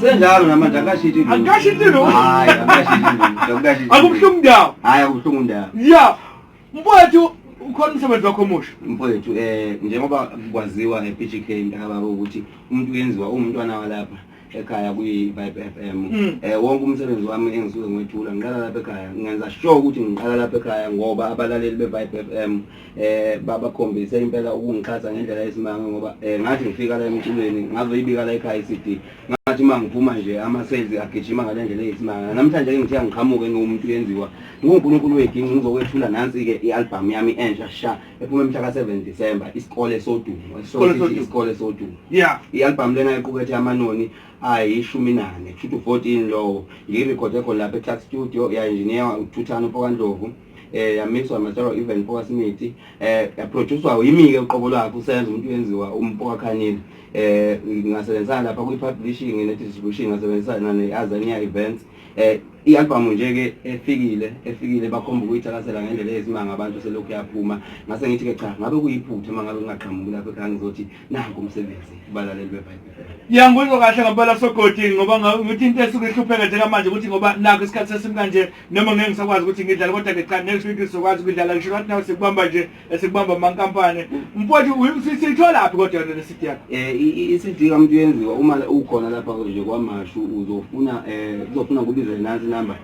Senjalo namanje akashiti lutho. Akashiti lutho. Hayi, akashiti lutho. Akashiti. Akubuhlungu ndawo. Hayi, akubuhlungu ndawo. Yeah. Mfowethu ukhona umsebenzi wakho omusha. Mfowethu eh njengoba kwaziwa ePGK mntakababa ukuthi umuntu uyenziwa umntwana walapha ekhaya kwi-vibe f m mm. eh wonke umsebenzi wami engisuke ngwethula ngiqala lapha ekhaya ngenza sure ukuthi ngiqala lapha ekhaya ngoba abalaleli be-vibe f m eh baba khombise impela ukungixhasa ngendlela yesimanga ngoba eh ngathi ngifika la emculweni ngazoyibika la ekhaya iCD ngathi uma ngiphuma nje ama sales agijima ngale ndlela yesimanga namhlanje ke ngithiya ngiqhamuke ngiwumuntu yenziwa nguNkulunkulu weginci ngizokwethula nansi ke ialbum yami entsha sha ephuma mhla ka 7 December isikole sodumo isikole sodumo yeah ialbum lena iqukethe amanoni ayishumi nane kusho ukuthi 14 lowo ngiyirekhode khona lapha eClark Studio ya engineer uThuthana uPokandlovu eh yamixwa Matsharo even Mpoka Simithi eh yaproducewa yimike uqobo lwakhe usenza umuntu wenziwa uMpoka Khanile eh ngasebenzisana lapha kwi publishing ne distribution ngasebenzisana ne Azania Events eh i-album nje ke efikile efikile bakhomba ukuyithakasela ngendlela eyisimanga abantu selokhu yaphuma ngase ngithi ke cha ngabe kuyiphutha mangabe ngingaqhamuki lapha ekhaya ngizothi nanku umsebenzi balaleli beBhayibheli yangizwa kahle ngempela sogodi ngoba ngithi into esuke ihlupheka njengamanje ukuthi ngoba nakho isikhathi sesimi kanje noma ngeke ngisakwazi ukuthi ngidlale kodwa ke cha next week sizokwazi ukudlala ngisho ngathi nawe sikubamba nje esikubamba amankampani mfowethu sitholaphi kodwa yona lesidi yakho eh isidi kamuntu yenziwa uma ukhona lapha nje kwamashu uzofuna eh uzofuna kubizele nansi number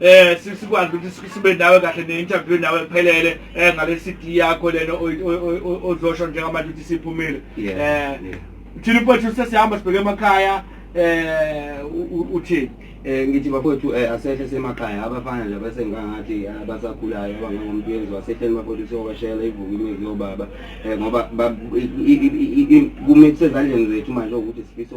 eh sikwazi ukuthi sibe nawe kahle ne-interview nawe kuphelele eh ngale CD yakho lena ozosho njengamanje ukuthi siphumile eh thina mfowethu sesihamba sibheke emakhaya eh uthini eh ngithi bafowethu eh, asehle semakhaya abafana nje bese ngangathi ah, abasakhulayo abangomuntu yenziwa asehleni bafowethu siyowashela ivuka imizi yobaba eh ngoba kumele kusezandleni zethu manje ukuthi sifisa